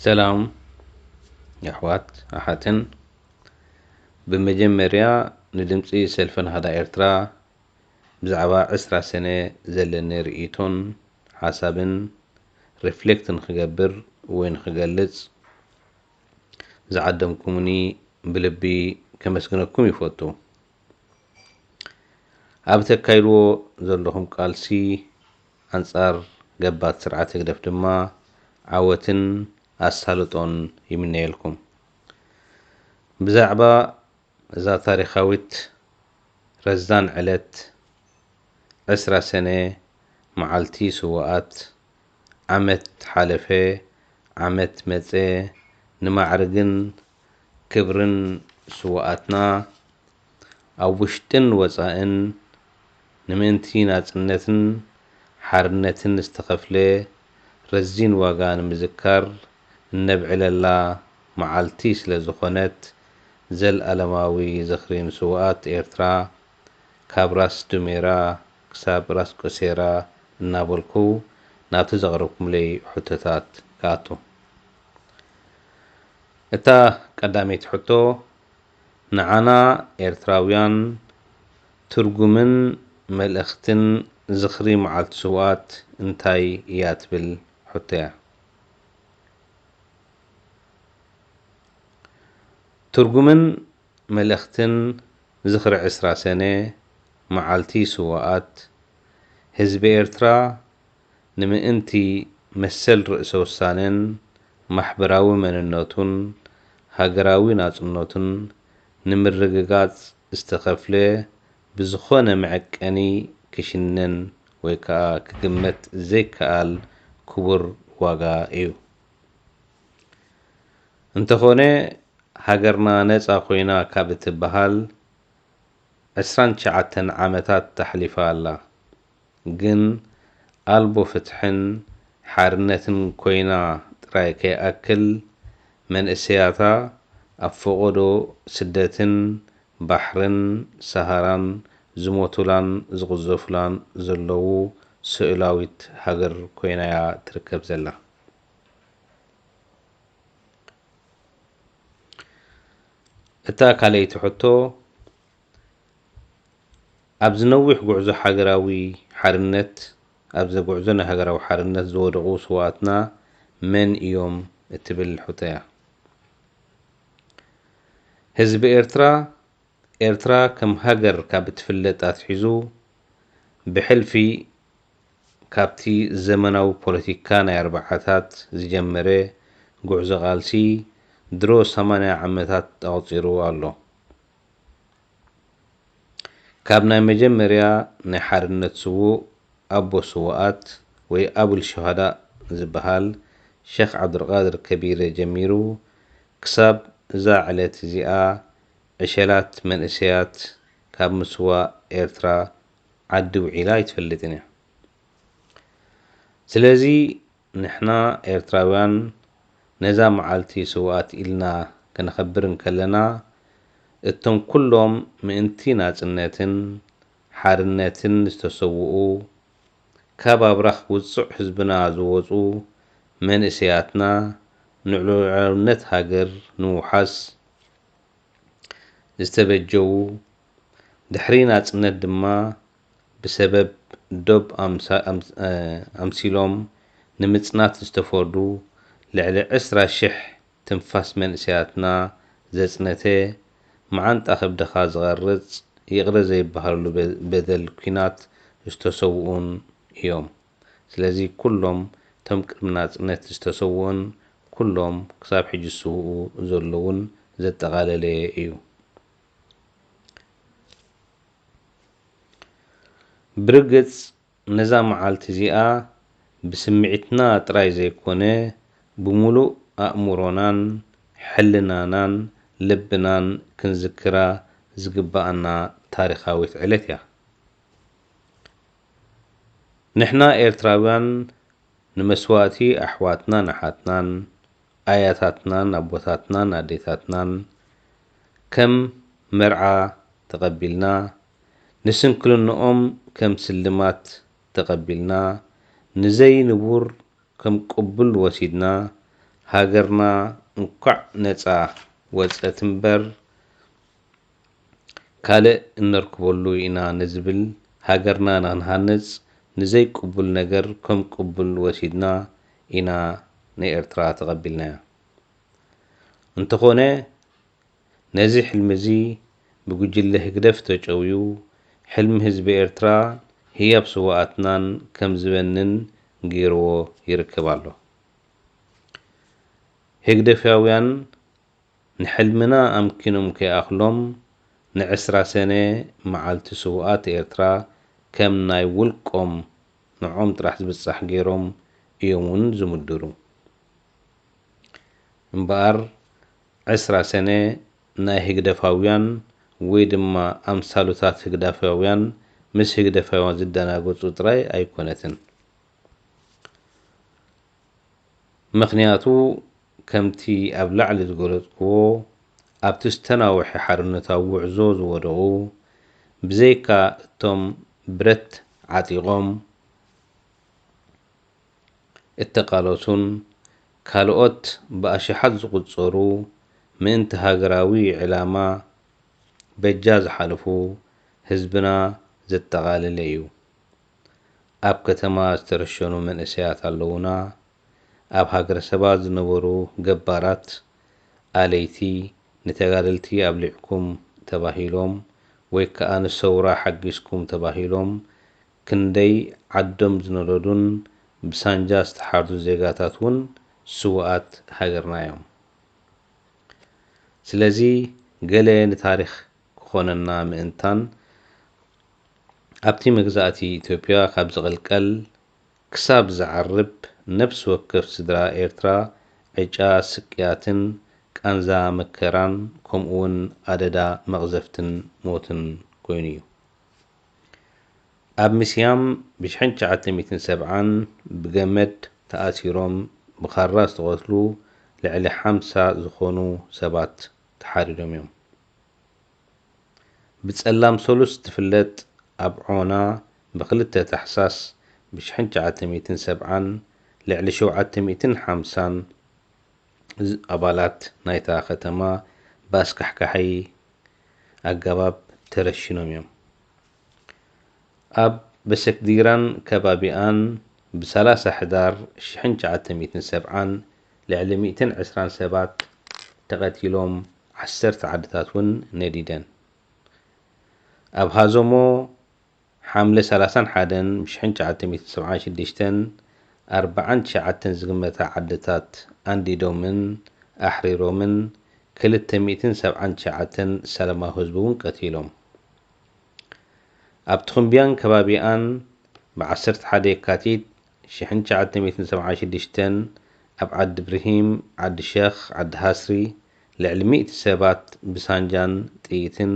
ሰላም የሕዋት ኣሓትን ብመጀመርያ ንድምፂ ሰልፊ ናህዳ ኤርትራ ብዛዕባ ዕስራ ሰነ ዘለኒ ርእይቶን ሓሳብን ሪፍሌክት ንክገብር ወይ ንክገልፅ ዝዓደምኩምኒ ብልቢ ከመስግነኩም ይፈቱ። ኣብ እተካይድዎ ዘለኹም ቃልሲ ኣንጻር ገባቲ ስርዓት ህግደፍ ድማ ዓወትን ኣሳልጦን ይምነየልኩም። ብዛዕባ እዛ ታሪኻዊት ረዛን ዕለት ዕስራ ሰነ መዓልቲ ስዉኣት፣ ዓመት ሓለፈ ዓመት መጸ ንማዕርግን ክብርን ስዉኣትና ኣብ ውሽጥን ወጻእን ንምእንቲ ናጽነትን ሓርነትን ዝተኸፍለ ረዚን ዋጋ ንምዝካር እነብዕለላ መዓልቲ ስለዝኾነት ዘልኣለማዊ ዝኽሪ ንስዉኣት ኤርትራ ካብ ራስ ዱሜራ ክሳብ ራስ ቆሴራ እናበልኩ ናብቲ ዘቕረብኩምለይ ሕቶታት ክኣቱ። እታ ቀዳመይቲ ሕቶ ንዓና ኤርትራውያን ትርጉምን መልእኽትን ዝኽሪ መዓልቲ ስውኣት እንታይ እያ ትብል ሕቶ'ያ። ትርጉምን መልእኽትን ዝኽሪ ዕስራ ሰነ መዓልቲ ስዉኣት ህዝቢ ኤርትራ ንምእንቲ መሰል ርእሰ ውሳነን ማሕበራዊ መንነቱን ሃገራዊ ናጽነቱን ንምርግጋጽ ዝተኸፍለ ብዝኾነ መዐቀኒ ክሽነን ወይ ከኣ ክግመት ዘይከኣል ክቡር ዋጋ እዩ። እንተኾነ ሃገርና ነጻ ኮይና ካብ እትበሃል ዕስራን ትሽዓተን ዓመታት ኣሕሊፋ ኣላ። ግን ኣልቦ ፍትሕን ሓርነትን ኮይና ጥራይ ከይኣክል መንእሰያታ ኣብ ፈቖዶ ስደትን ባሕርን ሰሃራን ዝሞቱላን ዝቕዘፉላን ዘለዉ ስእላዊት ሃገር ኮይና'ያ ትርከብ ዘላ። እታ ካልኣይቲ ሕቶ፣ ኣብዚ ነዊሕ ጉዕዞ ሓገራዊ ሓርነት ኣብዘ ጉዕዞ ናይ ሃገራዊ ሓርነት ዝወደቑ ስውኣትና መን እዮም እትብል ሕቶያ። ህዝቢ ኤርትራ፣ ኤርትራ ከም ሃገር ካብ እትፍለጥ ኣትሒዙ ብሕልፊ ካብቲ ዘመናዊ ፖለቲካ ናይ ኣርብዓታት ዝጀመረ ጉዕዞ ቃልሲ ድሮ ሰማንያ ዓመታት ኣቑጺሩ ኣሎ። ካብ ናይ መጀመርያ ናይ ሓርነት ስዉእ ኣቦ ስዉኣት ወይ ኣቡል ሹሃዳእ ዝበሃል ሸኽ ዓብዱልቃድር ከቢረ ጀሚሩ ክሳብ እዛ ዕለት እዚኣ ዕሸላት መንእሰያት ካብ ምስዋእ ኤርትራ ዓዲ ውዒላ ኣይትፈልጥን እያ ስለዚ ንሕና ኤርትራውያን ነዛ መዓልቲ ስውኣት ኢልና ከነኸብር እንከለና እቶም ኩሎም ምእንቲ ናጽነትን ሓርነትን ዝተሰውኡ ካብ ኣብራኽ ውጹዕ ህዝብና ዝወጹ መንእሰያትና ንሉዕላውነት ሃገር ንምውሓስ ዝተበጀዉ ድሕሪ ናጽነት ድማ ብሰበብ ዶብ ኣምሲሎም ንምጽናት ዝተፈርዱ ልዕሊ ዕስራ ሽሕ ትንፋስ መንእሰያትና ዘጽነተ፣ መዓንጣ ከብድኻ ዝቐርጽ ይቕረ ዘይበሃለሉ በደል ኲናት ዝተሰውኡን እዮም። ስለዚ ኩሎም እቶም ቅድሚ ናጽነት ዝተሰውኡን ኩሎም ክሳብ ሕጂ ዝስውኡ ዘለዉን ዘጠቓለለ እዩ። ብርግጽ ነዛ መዓልቲ እዚኣ ብስምዒትና ጥራይ ዘይኮነ ብምሉእ ኣእምሮናን ሕልናናን ልብናን ክንዝክራ ዝግብኣና ታሪኻዊት ዕለት እያ። ንሕና ኤርትራውያን ንመስዋእቲ ኣሕዋትናን ኣሓትናን፣ ኣያታትናን ኣቦታትናን ኣዴታትናን ከም መርዓ ተቐቢልና፣ ንስንክልንኦም ከም ስልማት ተቐቢልና፣ ንዘይ ንቡር ከም ቅቡል ወሲድና፣ ሃገርና እንኳዕ ነጻ ወጸት'ምበር፣ ካልእ እነርክበሉ ኢና ንዝብል ሃገርና ንክንሃንጽ ንዘይ ቅቡል ነገር ከም ቅቡል ወሲድና ኢና ንኤርትራ ተቀቢልናያ እንተኮነ ነዚ ሕልሚ እዚ ብጉጅለ ህግደፍ ተጨውዩ ሕልሚ ህዝቢ ኤርትራን ህያብ ስዋኣትናን ከም ዝበንን ገይርዎ ይርከብ ኣሎ ህግደፍያውያን ንሕልምና ኣምኪኖም ከይኣኽሎም ንዕስራ ሰነ መዓልቲ ስውኣት ኤርትራ ከም ናይ ውልቆም ንዖም ጥራሕ ዝብጻሕ ገይሮም እዮም ውን ዝምድሩ እምበኣር ዕስራ ሰነ ናይ ህግደፋውያን ወይ ድማ ኣምሳሉታት ህግዳፋውያን ምስ ህግደፋውያን ዝደናገጹ ጥራይ ኣይኮነትን። ምኽንያቱ ከምቲ ኣብ ላዕሊ ዝገለጽኩዎ ኣብቲ ዝተናውሐ ሓርነታዊ ጉዕዞ ዝወደቑ ብዘይካ እቶም ብረት ዓጢቖም እተቓለሱን ካልኦት ብኣሽሓት ዝቑጸሩ ምእንቲ ሃገራዊ ዕላማ በጃ ዝሓለፉ ህዝብና ዘጠቓለለ እዩ። ኣብ ከተማ ዝተረሸኑ መንእሰያት ኣለዉና፣ ኣብ ሃገረሰባት ዝነበሩ ገባራት ኣለይቲ ንተጋደልቲ ኣብሊዕኩም ተባሂሎም ወይ ከኣ ንሰውራ ሓጊዝኩም ተባሂሎም ክንደይ ዓዶም ዝነደዱን ብሳንጃ ዝተሓርዱ ዜጋታት ውን ስውኣት ሃገርና'ዮም። ስለዚ ገለ ንታሪኽ። ክኾነና ምእንታን ኣብቲ መግዛእቲ ኢትዮጵያ ካብ ዝቕልቀል ክሳብ ዝዓርብ ነብሲ ወከፍ ስድራ ኤርትራ ዕጫ ስቅያትን ቃንዛ መከራን ከምኡውን ኣደዳ መቕዘፍትን ሞትን ኮይኑ እዩ። ኣብ ምስያም ብ ሽሕን ትሽዓተ ሚእትን ሰብዓን ብገመድ ተኣሲሮም ብኻራ ዝተቐትሉ ልዕሊ ሓምሳ ዝኾኑ ሰባት ተሓሪዶም እዮም። ብጸላም ሰሉስ ትፍለጥ ኣብ ዖና ብ ክልተ ታሕሳስ ብ ሽሕን ትሽዓተ ሚእትን ሰብዓን ልዕሊ ሸውዓተ ሚእትን ሓምሳን ኣባላት ናይታ ከተማ ብ ኣስካሕካሒ ኣገባብ ተረሺኖም እዮም። ኣብ በሰክዲራን ከባቢኣን ብ ሰላሳ ሕዳር ሽሕን ትሽዓተ ሚእትን ሰብዓን ልዕሊ ሚእትን ዕስራን ሰባት ተቐቲሎም ዓሰርተ ዓድታት ውን ነዲደን። ኣብ ሃዘሞ ሓምለ ሰላሳን ሓደን ብ ሽሕን ትሽዓተ ሚእትን ሰብዓን ሽድሽተን ኣርብዓን ትሽዓተን ዝግመታ ዓድታት ኣንዲዶምን ኣሕሪሮምን ክልተ ሚእትን ሰብዓን ትሽዓተን ሰላማዊ ህዝቢ ውን ቀቲሎም። ኣብ ትኹምብያን ከባቢኣን ብ ዓሰርተ ሓደ የካቲት ሽሕን ትሽዓተ ሚእትን ሰብዓን ሽዱሽተን ኣብ ዓዲ ብርሂም፣ ዓዲ ሸኽ፣ ዓዲ ሃስሪ ልዕሊ ሚእቲ ሰባት ብሳንጃን ጥይትን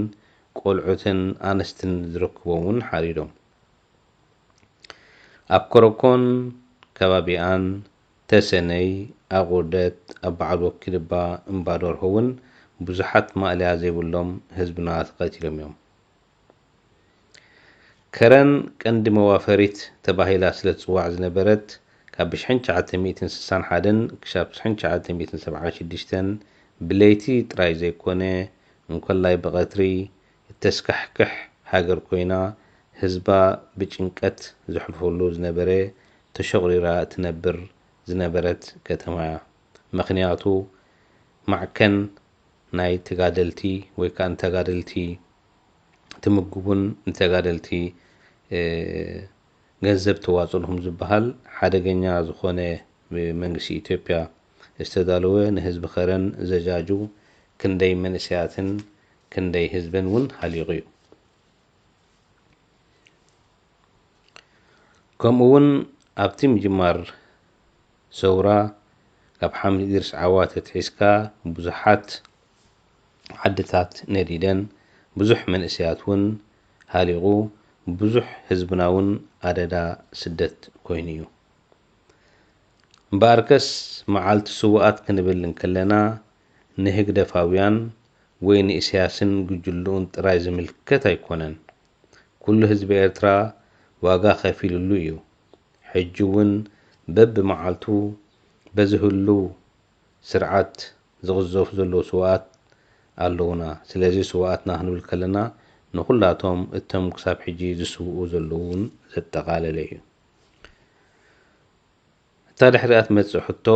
ቆልዑትን ኣንስትን ዝርክቦም ውን ሓሪዶም። ኣብ ኮረኮን ከባቢኣን ተሰነይ ኣቁርደት ኣብ በዓል ወኪል እባ እምባዶርሆ ውን ብዙሓት ማእለያ ዘይብሎም ህዝብና ተቀቲሎም እዮም። ከረን ቀንዲ መዋፈሪት ተባሂላ ስለ ትጽዋዕ ዝነበረት ካብ ብሽሕን ትሽዓተ ሚእትን ስሳን ሓደን ክሻብ ብሽሕን ትሽዓተ ሚእትን ሰብዓን ሽዱሽተን ብለይቲ ጥራይ ዘይኮነ እንኮላይ ብቀትሪ እተስካሕክሕ ሃገር ኰይና፣ ህዝባ ብጭንቀት ዘሕልፈሉ ዝነበረ ተሸቝሪራ እትነብር ዝነበረት ከተማ'ያ። ምኽንያቱ ማዕከን ናይ ተጋደልቲ ወይ ከኣ ንተጋደልቲ ትምግቡን ንተጋደልቲ ገንዘብ ተዋጽእልኩም ዝበሃል ሓደገኛ ዝዀነ ብመንግስቲ ኢትዮጵያ ዝተዳለወ ንህዝቢ ከረን ዘጃጁ ክንደይ መንእሰያትን ክንደይ ህዝብን ውን ሃሊቑ'ዩ። ከምኡ ውን ኣብቲ ምጅማር ሰውራ ካብ ሓምድ ኢድሪስ ዓዋተ ኣትሒዝካ ብዙሓት ዓድታት ነዲደን፣ ብዙሕ መንእሰያት ውን ሃሊቑ፣ ብዙሕ ህዝብና ውን ኣደዳ ስደት ኮይኑ'ዩ። እምበኣርከስ መዓልቲ ስውኣት ክንብል እንከለና ንህግደፋውያን ወይ ንኢሳያስን ጉጅልኡን ጥራይ ዝምልከት ኣይኮነን። ኩሉ ህዝቢ ኤርትራ ዋጋ ከፊልሉ እዩ። ሕጂ ውን በብመዓልቱ በዚ ህሉው ስርዓት ዝቕዘፉ ዘለዉ ስውኣት ኣለዉና። ስለዚ ስውኣትና ክንብል ከለና ንኹላቶም እተም ክሳብ ሕጂ ዝስውኡ ዘለዉ ውን ዘጠቓለለ እዩ። እታ ድሕሪኣ ትመጽእ ሕቶ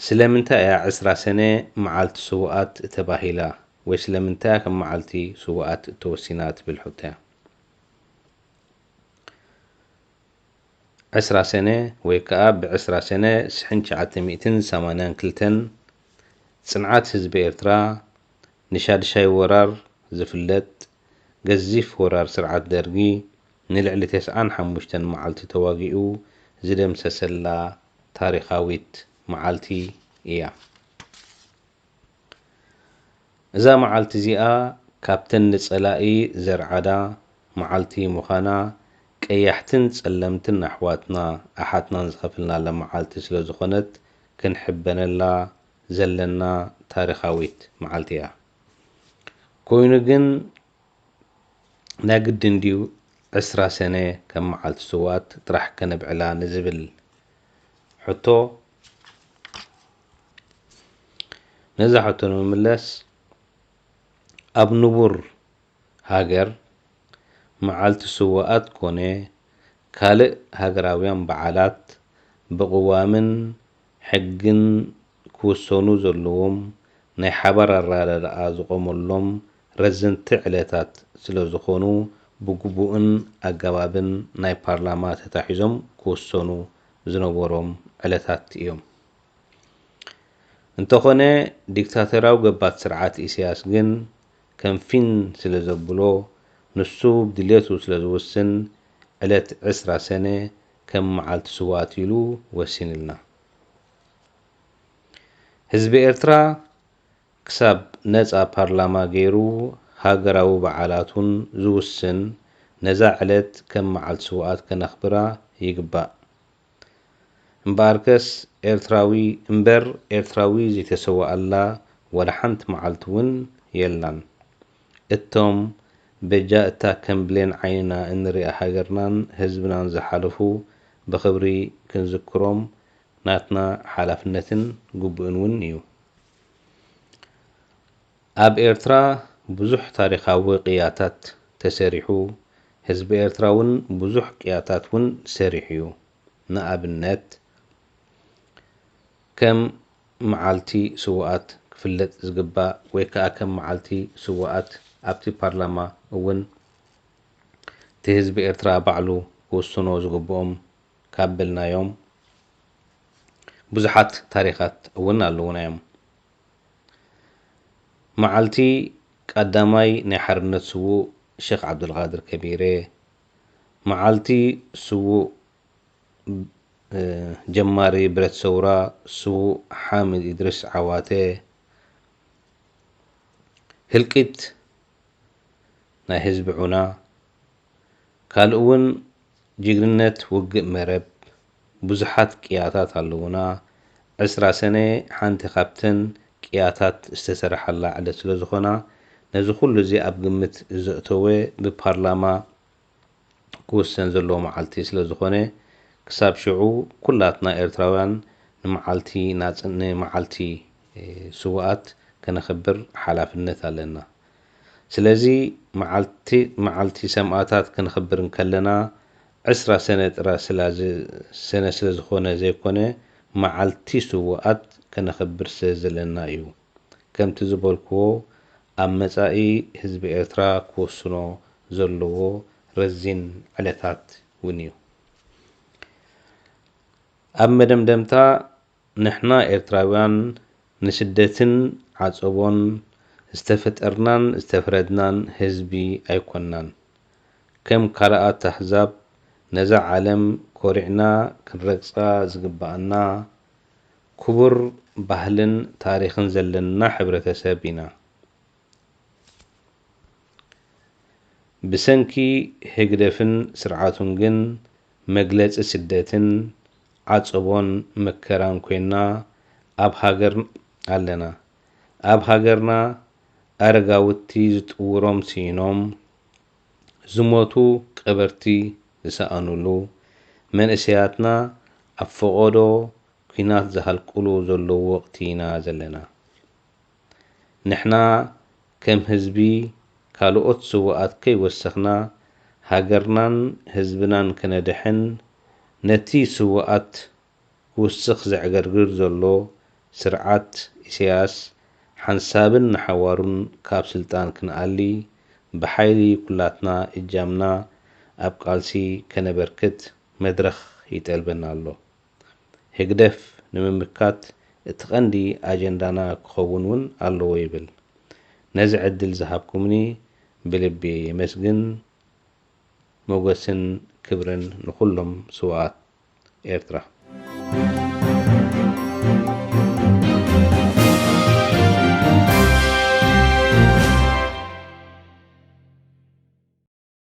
ስለምንታይ እያ ዕስራ ሰነ መዓልቲ ስውኣት እተባሂላ ወይ ስለምንታይ እያ ከም መዓልቲ ስውኣት እተወሲና እትብል ሕቶ እያ። ዕስራ ሰነ ወይ ከኣ ብዕስራ ሰነ ሽሕን ትሽዓተ ሚእትን ሰማንያን ክልተን ጽንዓት ህዝቢ ኤርትራ ንሻድሻይ ወራር ዝፍለጥ ገዚፍ ወራር ስርዓት ደርጊ ንልዕሊ ተስዓን ሓሙሽተን መዓልቲ ተዋጊኡ ዝደምሰሰላ ታሪኻዊት መዓልቲ እያ። እዛ መዓልቲ እዚኣ ካብተን ንጸላኢ ዘርዓዳ መዓልቲ ምዃና ቀያሕትን ጸለምትን ኣሕዋትና ኣሓትናን ዝኸፈልናላ መዓልቲ ስለዝኾነት ክንሕበነላ ዘለና ታሪኻዊት መዓልቲ እያ። ኮይኑ ግን ናይ ግድን ድዩ ዕስራ ሰነ ከም መዓልቲ ስውኣት ጥራሕ ከነብዕላ ንዝብል ሕቶ? ነዛ ሕቶ ንምምለስ ኣብ ንቡር ሃገር መዓልቲ ስውኣት ኮነ ካልእ ሃገራውያን በዓላት ብቕዋምን ሕግን ክውሰኑ ዘለዎም ናይ ሓባር ኣረዳድኣ ዝቖመሎም ረዘንቲ ዕለታት ስለዝኾኑ ብግቡእን ኣገባብን ናይ ፓርላማ ተታሒዞም ክውሰኑ ዝነበሮም ዕለታት እዮም። እንተኾነ ዲክታቶርያዊ ገባት ስርዓት ኢሳያስ ግን ከም ፊን ስለዘብሎ ንሱ ብድሌቱ ስለዝውስን ዕለት ዕስራ ሰነ ከም መዓልቲ ስውኣት ኢሉ ወሲንልና። ህዝቢ ኤርትራ ክሳብ ነጻ ፓርላማ ገይሩ ሃገራዊ በዓላቱን ዝውስን ነዛ ዕለት ከም መዓልቲ ስውኣት ከነኽብራ ይግባእ። እምበኣርከስ ኤርትራዊ እምበር ኤርትራዊ ዘይተሰወኣላ ዋላ ሓንቲ መዓልቲ ውን የላን። እቶም በጃ እታ ከም ብሌን ዓይንና እንሪኣ ሃገርናን ህዝብናን ዝሓለፉ ብኽብሪ ክንዝክሮም ናትና ሓላፍነትን ግቡእን ውን እዩ። ኣብ ኤርትራ ብዙሕ ታሪኻዊ ቅያታት ተሰሪሑ፣ ህዝቢ ኤርትራ ውን ብዙሕ ቅያታት ውን ሰሪሑ'ዩ። ንኣብነት ከም መዓልቲ ስውኣት ክፍለጥ ዝግባእ ወይ ከኣ ከም መዓልቲ ስውኣት ኣብቲ ፓርላማ ውን እቲ ህዝቢ ኤርትራ ባዕሉ ክውስኖ ዝግብኦም፣ ካብ በልናዮም ብዙሓት ታሪኻት እውን ኣለዉና እዮም። መዓልቲ ቃዳማይ ናይ ሓርነት ስዉእ ሸኽ ዓብደልቓድር ከቢረ፣ መዓልቲ ስዉእ ጀማሪ ብረት ሰውራ ስዉእ ሓምድ ኢድሪስ ዓዋተ፣ ህልቂት ናይ ህዝቢ ዑና ካልእ እውን ጅግንነት ውግእ መረብ ብዙሓት ቅያታት ኣለዉና፣ ዕስራ ሰነ ሓንቲ ካብተን ቅያታት ዝተሰረሓላ ዕለት ስለዝኾና ነዚ ኩሉ እዚ ኣብ ግምት ዘእተወ ብፓርላማ ክውሰን ዘለዎ መዓልቲ ስለዝኾነ ክሳብ ሽዑ ኩላትና ኤርትራውያን ንመዓልቲ ናጽ ንመዓልቲ ስውኣት ከነኽብር ሓላፍነት ኣለና። ስለዚ መዓልቲ መዓልቲ ሰማእታት ክንኽብር እንከለና ዕስራ ሰነ ጥራ ስላ ሰነ ስለ ዝኾነ ዘይኮነ መዓልቲ ስውኣት ከነኽብር ስለ ዘለና እዩ። ከምቲ ዝበልክዎ ኣብ መጻኢ ህዝቢ ኤርትራ ክወስኖ ዘለዎ ረዚን ዕለታት ውን እዩ። ኣብ መደምደምታ፣ ንሕና ኤርትራውያን ንስደትን ዓጸቦን ዝተፈጠርናን ዝተፍረድናን ህዝቢ ኣይኮናን። ከም ካልኣት ኣህዛብ ነዛ ዓለም ኮሪዕና ክንረግጻ ዝግባኣና ኩቡር ባህልን ታሪኽን ዘለና ሕብረተሰብ ኢና። ብሰንኪ ህግደፍን ስርዓቱን ግን መግለጺ ስደትን ዓጸቦን መከራን ኮይና ኣብ ሃገር ኣለና። ኣብ ሃገርና ኣረጋውቲ ዝጥውሮም ስኢኖም ዝሞቱ ቀበርቲ ዝሰኣኑሉ፣ መንእሰያትና ኣብ ፈቖዶ ኩናት ዝሃልቁሉ ዘለዉ ወቕቲ ኢና ዘለና። ንሕና ከም ህዝቢ ካልኦት ስውኣት ከይወሰኽና ሃገርናን ህዝብናን ክነድሕን ነቲ ስውኣት ክውስኽ ዘዕገርግር ዘሎ ስርዓት ኢሰያስ ሓንሳብን ንሓዋሩን ካብ ስልጣን ክንኣሊ ብሓይሊ ኩላትና እጃምና ኣብ ቃልሲ ከነበርክት መድረኽ ይጠልበና ኣሎ። ህግደፍ ንምምካት እቲ ቀንዲ ኣጀንዳና ክኸውን ውን ኣለዎ ይብል። ነዚ ዕድል ዝሃብኩምኒ ብልቢ የመስግን ሞገስን ክብርን ንኹሎም ስውኣት ኤርትራ።